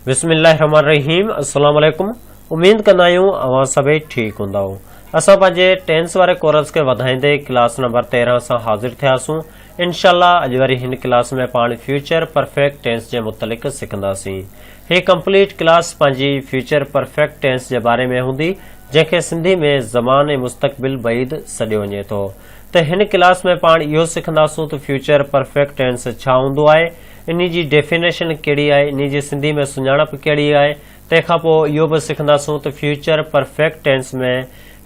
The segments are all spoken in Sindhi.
بسم الله الرحمن الرحيم السلام عليڪم اميد ڪندا آهيون اوهان سڀئي ٺيڪ هوندا اسان پنهنجي ٽينس واري ڪورس کي وڌائيندي ڪلاس نمبر 13 سان حاضر ٿياسون انشاءالله اڄ وري هن ڪلاس ۾ پاڻ فيوچر پرفيڪٽ ٽينس جي متعلق سکنداسين هي ڪمپليٽ ڪلاس پنهنجي فيوچر پرفيڪٽ ٽينس جي باري ۾ هوندي جنهن کي سنڌي ۾ زمان ۽ مستقبل بعيد سڏيو وڃي ٿو ته هن ڪلاس ۾ پاڻ اهو سکنداسون ته فيوچر پرفيڪٽ ٽينس ڇا هوندو آهي انهي جي ڊيفينيشن ڪهڙي آهي انهي جي سنڌي ۾ سڃاڻپ ڪهڙي آهي تنهن کان پوء اهو به سکنداسون ته future perfect tense ۾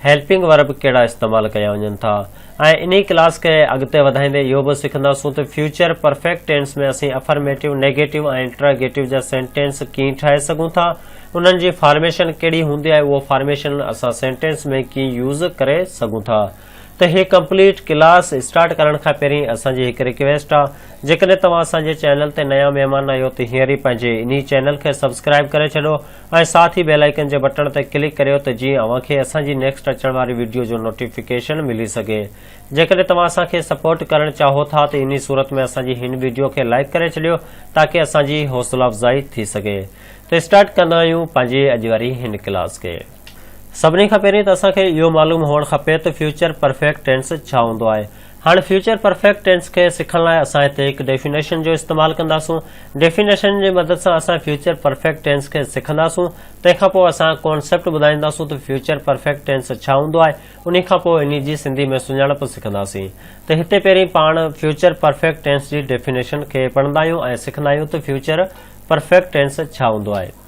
helping verb ڪهڙا استعمال ڪيا وڃن ٿا ۽ انهي ڪلاس کي اڳتي وڌائيندي اهو به سکنداسون ته فيوچر پرفيڪٽ ٽينس ۾ اسين افرميٽو، نيگيٽو ۽ انٽراگيٽو جا سينٽينس ڪيئن ٺاهي سگهون ٿا، انهن جي فارميشن ڪهڙي هوندي ۽ اهو فارميشن اسان سينٽينس ۾ ڪيئن يوز ڪري سگهون ٿا ته هي ڪمپليٽ ڪلاس اسٽارٽ ڪرڻ کان پهرين اسان جي هڪ ريڪويسٽ آ جيڪڏهن توهان اسان جي چينل تي نيا مهمان آهيو ته هينئر ئي پنهنجي انهي چينل کي سبسڪرائيب ڪري ڇڏو ۽ ساٿ ئي بيل آئيڪن جي بٽڻ تي ڪلڪ ڪريو ته جيئن اوهان کي اسان جي نيڪسٽ اچڻ واري وڊيو جو نوٽيفڪيشن ملي سگهي جيڪڏهن توهان اسان کي سپورٽ ڪرڻ چاهو ٿا ته انهي صورت ۾ اسان جي هن وڊيو کي لائيڪ ڪري ڇڏيو تاڪه اسان جي حوصلا افزائي ٿي سگهي ته اسٽارٽ ڪندا آهيون پنهنجي اڄ واري هن ڪلاس کي سڀني کان پهرين ته اسان کي اهو معلوم هئڻ کپي ته فيوچر پرفيڪٽ ٽينس ڇا هوندو آهي هاڻ فيوچر پرفيڪٽ ٽينس کي سکڻ لاء اسان هتي هڪ ڊيفينيشن جو استعمال ڪنداسون. ڊيفينيشن جي مدد سان اسان فيوچر پرفيڪٽ ٽينس کي سکنداسون. تنهن کان پوء اسان ڪانسيپٽ ٻڌائينداسون ته فيوچر پرفيڪٽ ٽينس ڇا هوندو آهي. انهي کان پوء انهي جي سنڌي ۾ سڃاڻپ سکنداسين. ته هتي پهرين پاڻ فيوچر پرفيڪٽ ٽينس جي ڊيفينيشن کي پڙهندا آهيون ۽ سکندا آهيون ته فيوچر پرفيڪٽ ٽينس ڇا هوندو آهي.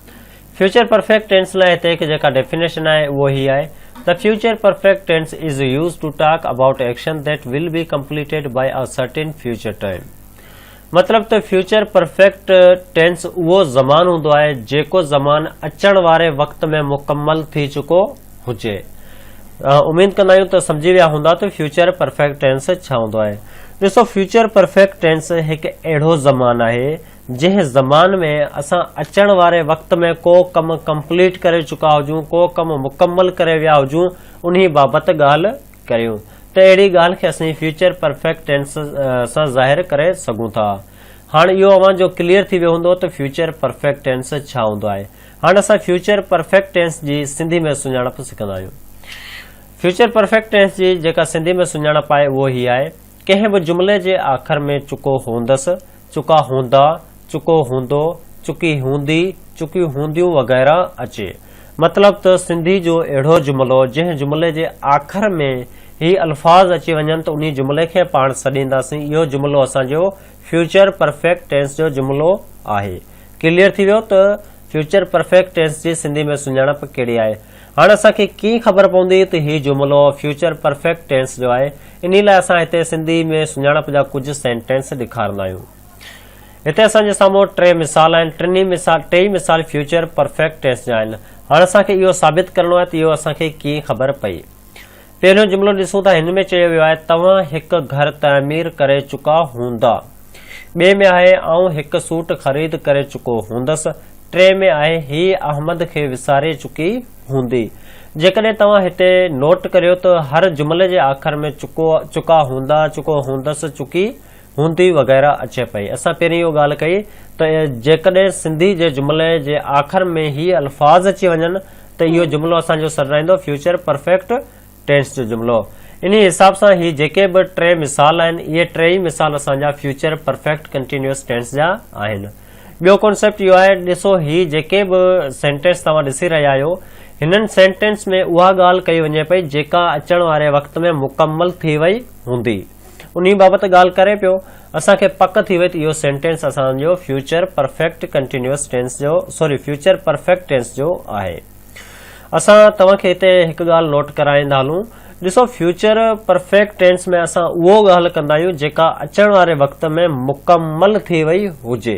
فيوچر پرفيڪٽ ٽينس لاء هتي هڪ جيڪا ڊيفينيشن آهي اهو هي آهي ته future perfect tense is used to talk about action that will be completed by a certain future time مطلب ته فيوچر پرفيڪٽ ٽينس اهو زمان هوندو آهي جيڪو زمان اچڻ واري وقت ۾ مڪمل ٿي چڪو هجي اميد ڪندا آهيون ته سمجهي ويا هوندا ته فيوچر پرفيڪٽ ٽينس ڇا هوندو آهي ڏسو فيوچر پرفيڪٽ ٽينس هڪ اهڙو زمان آهي جنهن زمان ۾ اسان اچڻ واري وقت ۾ ڪو ڪم ڪمپليٽ ڪري چڪا هجون، ڪو ڪم مڪمل ڪري ويا هجون، انهي بابت ڳالهه ڪريون ته اهڙي ڳالهه کي اسين فيوچر پرفيڪٽ ٽينس سان ظاهر ڪري سگهون ٿا. هاڻ اهو اوهان جو ڪليئر ٿي ويو هوندو ته فيوچر پرفيڪٽ ٽينس ڇا هوندو آهي. هاڻ اسان فيوچر پرفيڪٽ ٽينس جي سنڌي ۾ سڃاڻپ سکندا آهيون. فيوچر پرفيڪٽ ٽينس جي جيڪا سنڌي ۾ سڃاڻپ آهي اهو هي آهي ڪنهن به جملي جي آخر ۾ چڪو هوندس، چڪا هوندا، چڪو هوندو، چڪي هوندي، چڪيون هونديون وغيره اچي. مطلب ته سنڌي جو اهڙو جملو جنهن جملي جي آخر ۾ هي الفاظ اچي وڃن ته انهي جملي کي پاڻ سڏينداسين اهو جملو اسان جو فيوچر پرفيڪٽ ٽينس جو جملو آهي. ڪليئر ٿي ويو ته فيوچر پرفيڪٽ ٽينس جي سنڌي ۾ سڃاڻپ ڪهڙي آهي. هاڻ اسان کي ڪيئن خبر پوندي ته هي جملو فيوچر پرفيڪٽ ٽينس جو آهي؟ انهي لاء اسان هتي سنڌي ۾ سڃاڻپ جا ڪجهه سينٽينس ڏيکارندا آهيون. هتي اسان جي سامهون ٽي مثال آهن. ٽنهي مثال ٽيئي مثال فيوچر پرفيڪٽ ٽينس جا آهن. هاڻ اسان کي اهو ثابت ڪرڻو آهي ته اهو اسان کي ڪيئن خبر پئي. پهريون جملو ڏسون ته هن ۾ چيو ويو آهي توهان هڪ گهر تعمير ڪري چڪا هوندا. ٻئي ۾ آهي آئون هڪ سوٽ خريد ڪري چڪو هوندس. ٽئين ۾ آهي هيء احمد کي وساري چڪي هوندي. جيڪڏهن توهان هتي نوٽ ڪريو ته هر جملي جي آخر ۾ چڪو، چڪا هوندا، چڪو هوندس، چڪي هوندي وغيره اچي پئي. اسان پهرين اهو ڳالهه ڪئي ته جيڪڏهن سنڌي جي جملي جي آخر ۾ هي الفاظ اچي وڃن ته اهو جملو اسان جو سڏرائيندو فيوچر پرفيڪٽ ٽينس جو جملو. انهي حساب سان هي جيڪي به ٽي مثال آهن اهي ٽي ئي مثال اسان جا فيوچر پرفيڪٽ ڪنٽينيوس ٽينس جا آهن. ٻيو ڪانسيپٽ اهو آهي ڏسو هي جيڪي به سينٽينس توهان ڏسي رهيا آهيو هنن سينٽينس ۾ اها ڳالهه ڪئي وڃي پئي جيڪا اچڻ واري وقت ۾ مڪمل ٿي وئي هوندي. انهي بابت ڳالهه ڪري پيو، اسان کي پڪ ٿي وئي ته اهو سينٽينس اسان جو فيوچر پرفيڪٽ ڪنٽينيوس ٽينس جو سوري فيوچر پرفيڪٽ ٽينس جو آهي. اسان توهان کي هتي هڪ ڳالهه نوٽ ڪرائيندا هلون، ڏسو فيوچر پرفيڪٽ ٽينس ۾ اسان اهو ڳالهه ڪندا آهيون جيڪا اچڻ واري وقت ۾ مڪمل ٿي وئي هجي.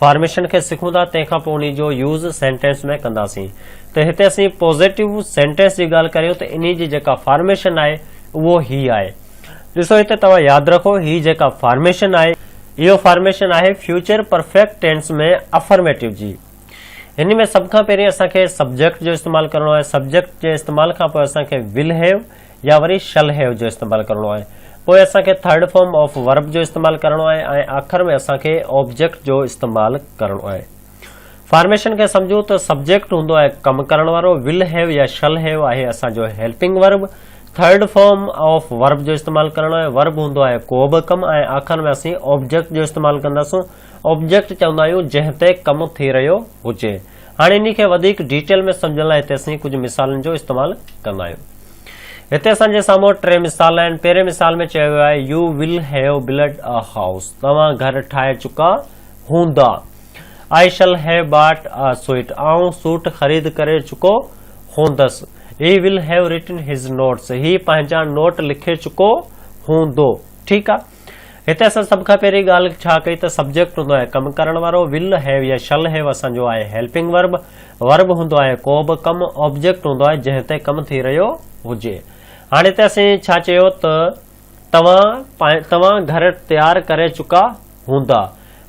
فارميشن کي سکون ٿا تنهن کان پوء انهي جو يوز سينٽينس ۾ ڪنداسين ته هتي اسين پوزيٽو سينٽينس جي ڳالهه ڪريون ته انهي جي جيڪا فارميشن آهي اهو هي آهي ڏسو هتي توهان ياد رکو هي جيڪا فارميشن آهي اهو فارميشن آهي فيوچر پرفيڪٽ ٽينس ۾ افرميٽو جي هن ۾ سڀ کان پهرين اسان کي سبجيڪٽ جو استعمال ڪرڻو آهي سبجيڪٽ جي استعمال کان پوء اسان کي ول هيو يا وري شل هيو جو استعمال ڪرڻو آهي. پوء اسان کي ٿرڊ فارم آف ورب جو استعمال ڪرڻو آهي ۽ آخر ۾ اسان کي آبجيڪٽ جو استعمال ڪرڻو آهي. فارميشن کي سمجهو ته سبجيڪٽ هوندو آهي ڪم ڪرڻ وارو، ول هيو يا شل هيو آهي اسان جو helping verb, third form of verb جو استعمال ڪرڻو آهي، ورب هوندو آهي ڪو به ڪم ۽ آخر ۾ اسين آبجيڪٽ جو استعمال ڪنداسون، آبجيڪٽ چوندا آهيون جنهن تي ڪم ٿي رهيو هجي. هاڻي انهي کي وڌيڪ ڊيٽيل ۾ سمجهڻ لاء هتي اسين ڪجهه مثالن جو استعمال ڪندا آهيون. هتي اسان جي سامهون ٽي مثال آهن. پهرين مثال ۾ چيو ويو آهي you will have built a house توهان گهر ٺاهي چڪا هوندا. آئي شل هيو باٽ اي سوئٽ آئون سوٽ خريد ڪري چڪو هوندس. He will have written his notes هي پنهنجا نوٽ لکي چڪو هوندو. ٺيڪ آهي. هتي اسان سڀ کان پهرين ڳالهه ڇا ڪئي ته سبجيڪٽ هوندو آهي ڪم ڪرڻ وارو، ول هيو يا شل هيو اسان جو آهي هيلپنگ ورب، ورب هوندو آهي ڪو به ڪم، آبجيڪٽ هوندو آهي جنهن تي ڪم ٿي رهيو هجي. هاڻي هتي اسين ڇا چيو ته توهان توهان گهر تيار ڪري چڪا هوندا.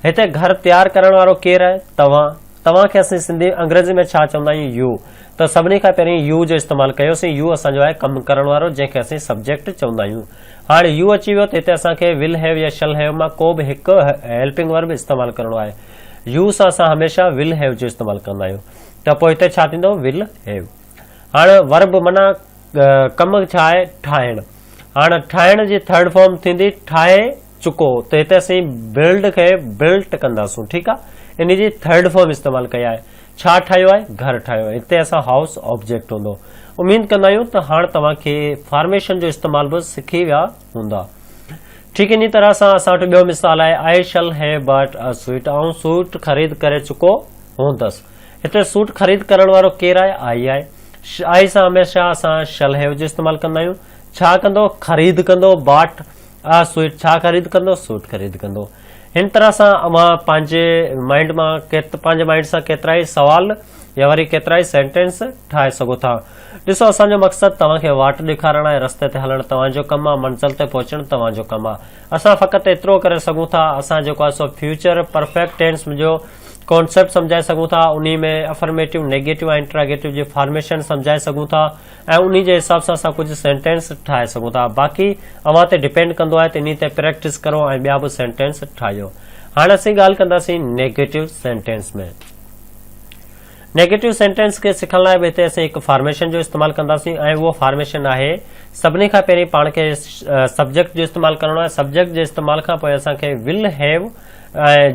هتي گهر تيار ڪرڻ وارو ڪير آهي؟ توهان. توهان کي اسين سنڌي انگريزي ۾ ڇا چوندا آهيون يو. ته سڀني کان پهرين يو جو استعمال ڪيوسين يو اسان جو آهي ڪم ڪرڻ وارو جنهن کي اسين سبجيڪٽ چوندا آهيون. هاڻي يو اچي ويو ته هتي اسان کي ول هيو يا شل هيو مان ڪو به هڪ هيلپنگ ورب استعمال ڪرڻو آهي. يو سان اسان هميشه ول هيو جو استعمال ڪندا آهيون. ته پوء هتي ڇا ٿيندو ول هيو. هاڻ ورب معنيٰ ڪم ڇا آهي ٺاهڻ. هاڻ ٺاهڻ جي ٿرڊ فارم ٿيندي ٺاهي چڪو ته هتي اسين بلڊ کي بلٽ ڪنداسون ٺيڪ آ انهي جي ٿرڊ فارم استعمال ڪئي آهي ڇا ٺاهيو آهي گهر ٺاهيو هتي اسان هائوس آبجيڪٽ هوندو اميد ڪندا آهيون ته هاڻ توهان کي فارميشن جو استعمال به سکي ويا هوندا ٺيڪ انهي طرح سان اسان وٽ ٻيو مثال آهي آئي شل هي باٽ ا سوئٽ آئون سوٽ خريد ڪري چڪو هوندس هتي سوٽ خريد ڪرڻ وارو ڪير آهي آئي آهي آئي سان هميشه اسان شل هيو جو استعمال ڪندا آهيون ڇا ڪندو خريد ڪندو باٽ اها سوئٽ ڇا خريد ڪندو؟ سوٽ خريد ڪندو. هن طرح سان اوهان پنهنجي مائنڊ مان پنهنجي مائنڊ سان ڪيترائي سوال يا وري ڪيترائي سينٽينس ٺاهي سگهو ٿا. ڏسو اسان جو مقصد توهان کي واٽ ڏيکارڻ آهي رستي تي هلڻ توهان جو ڪم آهي منزل تي پهچڻ توهان جو ڪم آهي. اسان فقط ايترو ڪري سگهون ٿا اسان جيڪو آهي سو فيوچر پرفيڪٽ ٽينس جو ڪانسيپٽ سمجهائي سگهون ٿا انهي ۾ افرميٽو نيگيٽو ۽ انٽراگيٽو جي فارميشن سمجهائي سگهون ٿا. ۽ انهي جي حساب سان اسان ڪجهه سينٽينس ٺاهي سگهون ٿا باقي اوهان تي ڊپينڊ ڪندو آهي ته انهي تي پريڪٽس ڪرو ۽ ٻيا به سينٽينس ٺاهيو هاڻ اسين ڳالهه ڪنداسين نيگيٽو سينٽينس ۾ نيگيٽو سينٽينس کي سکڻ لاء به هتي اسين هڪ فارميشن جو استعمال ڪنداسين ۽ اهو فارميشن آهي سڀني کان پهرين پاڻ کي سبجيڪٽ جو استعمال ڪرڻو آهي سبجيڪٽ جي استعمال کان پوء اسان کي ول هيو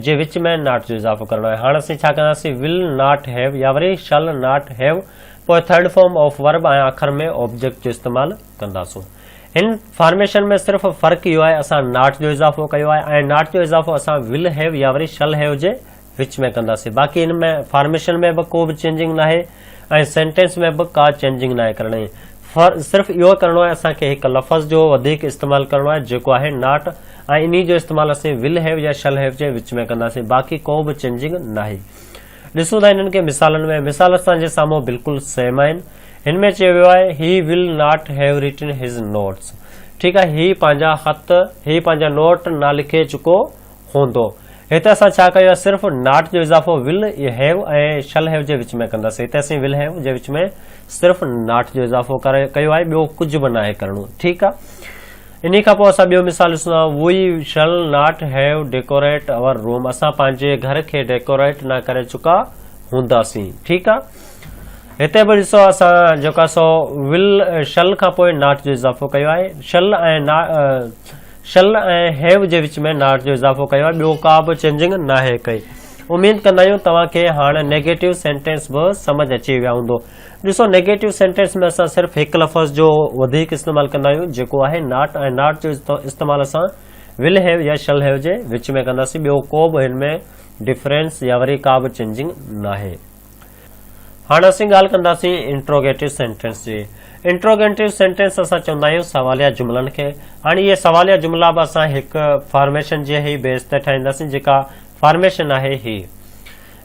جي وچ ۾ ناٽ جو اضافو ڪرڻو آهي هاڻ اسين ڇا ڪنداسين ول ناٽ هيو يا وري شل ناٽ هيو پوء ٿرڊ فارم آف ورب ۽ آخر ۾ آبجيڪٽ جو استعمال ڪنداسون. هن فارميشن ۾ صرف فرق اهو آهي اسان ناٽ جو اضافو ڪيو آهي ۽ ناٽ جو اضافو اسان ول هيو يا وري شل هيو جي وچ ۾ ڪنداسين باقي هن ۾ فارميشن ۾ به ڪو به چينجنگ ناهي ۽ سينٽينس ۾ به ڪا چينجنگ ناهي ڪرڻي صرف اهو ڪرڻو آهي اسان کي هڪ لفظ جو وڌيڪ استعمال ڪرڻو آهي جيڪو آهي ناٽ ۽ انهي جو استعمال اسين ول هيو يا شل هيو جي وچ ۾ ڪنداسين باقي ڪو به چينجنگ ناهي. ڏسون ٿا انهن کي مثالن ۾، مثال اسان جي سامهون بلڪل سيم آهن. هن ۾ چيو ويو آهي He will not have written his notes. ٺيڪ آهي هي پنهنجا خط، هي پنهنجا نوٽ نه لکي چڪو هوندو. هت اسان ڇا ڪيو آهي صرف not جو اضافو will have ۽ shall have جي وچ ۾ ڪنداسين. هتي اسين will have جي وچ ۾ صرف not جو اضافو ڪيو آهي ٻيو ڪجهه به ناهي ڪرڻو. ٺيڪ آهي. انهي کان پوء اسان ٻيو مثال ڏسون ٿا، we shall not have decorate our room اسان پنهنجي گهر کي ڊيڪوريٽ نه ڪري چڪا هونداسين. ٺيڪ آ. هتي به ڏسو اسان جيڪا سو ول شل کان پوء ناٽ جو اضافو ڪيو آهي. شل ۽ نا شل ۽ هيو جي وچ ۾ ناٽ جو اضافو ڪيو آهي ٻيو ڪا به چينجنگ ناهي ڪئي. اميد ڪندا آهيون توهان کي هاڻ نيگيٽو سينٽينس به سمجهه اچي ويا هوندو. ڏسو نيگيٽو سينٽينس ۾ اسان صرف هڪ لفظ جو وڌيڪ استعمال ڪندا آهيون جيڪو آهي ناٽ ۽ ناٽ جو استعمال اسان ول هيو يا شل هيو جي وچ ۾ ڪنداسين ٻيو ڪو به هن ۾ ڊفرينس يا وري ڪا به چينجنگ ناهي هاڻ اسين ڳالهه ڪنداسين انٽروگيٽو سينٽينس جي انٽروگيٽو سينٽينس اسان چوندا آهيون سواليا جملن کي هاڻي اهي سواليا جملا به اسان هڪ فارميشن جي هي بيس تي ٺاهينداسين جيڪا فارميشن آهي هي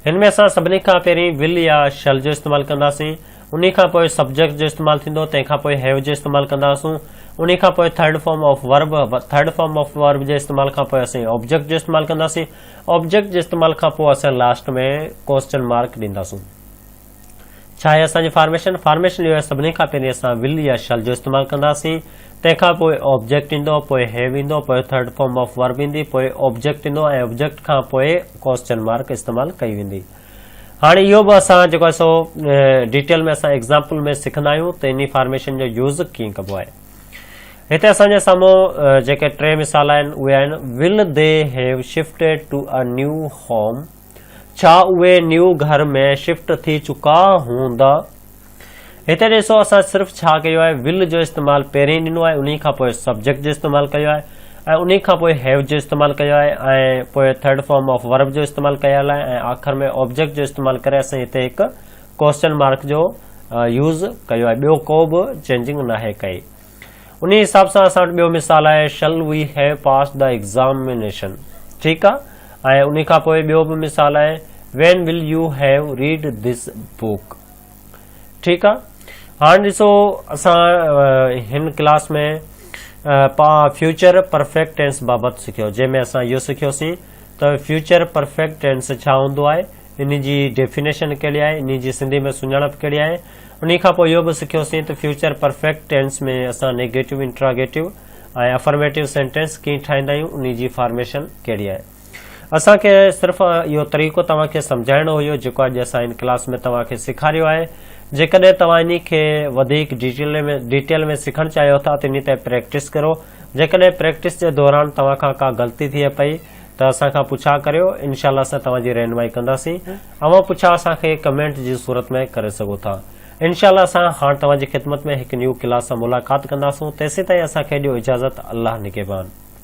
هن ۾ اسان سڀني کان پهرين ول يا شل جو استعمال ڪنداسين، انهي کان پوء سبجيڪٽ جو استعمال ٿيندو، تنهن کان پوء هيو جو استعمال ڪنداسون، انهي کان پوء third form of verb, third form of verb جي استعمال کان پوء اسين آبجيڪٽ جو استعمال ڪنداسين، آبجيڪٽ جي استعمال کان پوء اسان لاسٽ ۾ ڪوسچن مارڪ ڏينداسون. ڇا آهي اسان جي فارميشن؟ فارميشن اهو آهي سڀني کان پهرين اسان ول يا شل جو استعمال ڪنداسين، تنهن کان پوء آبجيڪٽ ايندو، پوء هيو ايندو، پوء ٿرڊ فارم آف ورب ايندي، پوء آبجيڪٽ ايندو ۽ آبجيڪٽ کان پوء ڪوسچن مارڪ استعمال ڪئي ويندي. هاڻي اهو به اسان جيڪو آهي سو ڊيٽيل ۾ اسان ايگزامپل ۾ سکندا آهيون ته انهي فارميشن جو يوز ڪيئن ڪبو آهي. هتي اسان جي سامهون جيڪي ٽي مثال آهن اهي آهن ول دي هيو شفٽيڊ ٽو ا نيو هوم. ڇا اهي نيو گهر ۾ شفٽ ٿي چڪا هوندا. هتي ڏسو اسان صرف ڇا ڪيو آهي ول جو استعمال پهرين ڏنو آهي انهي کان پوء سبجيڪٽ جو استعمال ڪيو آهي ۽ انهي کان پوء هيو جو استعمال ڪيو آهي ۽ پوء ٿرڊ فارم آف ورب جو استعمال ڪيل آهي ۽ آخر ۾ آبجيڪٽ جو استعمال ڪري اسين هتي هڪ ڪوسچن مارڪ جو يوز ڪيو آهي ٻيو ڪو به چينجنگ ناهي ڪئي. انهي حساب سان اسان وٽ ٻيو مثال آهي شل وي هيو پاس دا ايگزامينيشن ٺيڪ آهي ۽ انهي کان پوء ٻيو به مثال آهي when will you have read this book ٺيڪ آهي هاڻ ڏسو اسان هن ڪلاس ۾ فيوچر پرفيڪٽ ٽينس بابت سکيو جنهن ۾ اسان اهو سکيوسين ته فيوچر پرفيڪٽ ٽينس ڇا هوندو آهي ان جي ڊيفينيشن ڪهڙي آهي ان جي سنڌي ۾ سڃاڻپ ڪهڙي آهي انهي کان پوء اهو به سکيوسين ته فيوچر پرفيڪٽ ٽينس ۾ اسان نيگيٽو، انٽراگيٽو ۽ افرميٽو سينٽينس ڪيئن ٺاهيندا آهيون، انهي جي فارميشن ڪهڙي آهي. اسان کي صرف اهو طريقو توهان کي سمجهائڻو هيو جيڪو اڄ اسان هن ڪلاس ۾ توهان کي سيکاريو آهي. جيڪڏهن توهان انهي کي وڌيڪ ڊيٽيل ۾ سکڻ چاهيو ٿا ته انهي تي پريڪٽس ڪرو. جيڪڏهن پريڪٽس جي دوران توهان کان ڪا غلطي ٿئي پئي ته اسان کان پڇا ڪريو انشاء الله اسان توهان جي رهنمائي ڪنداسين اوهان پڇا اسان کي ڪمينٽ جي صورت ۾ ڪري سگهو ٿا انشاء الله اسان هاڻ توهان جي خدمت ۾ هڪ نيو ڪلاس سان ملاقات ڪنداسون تيسين تائين اسان کي ڏيو اجازت الله نگهبان.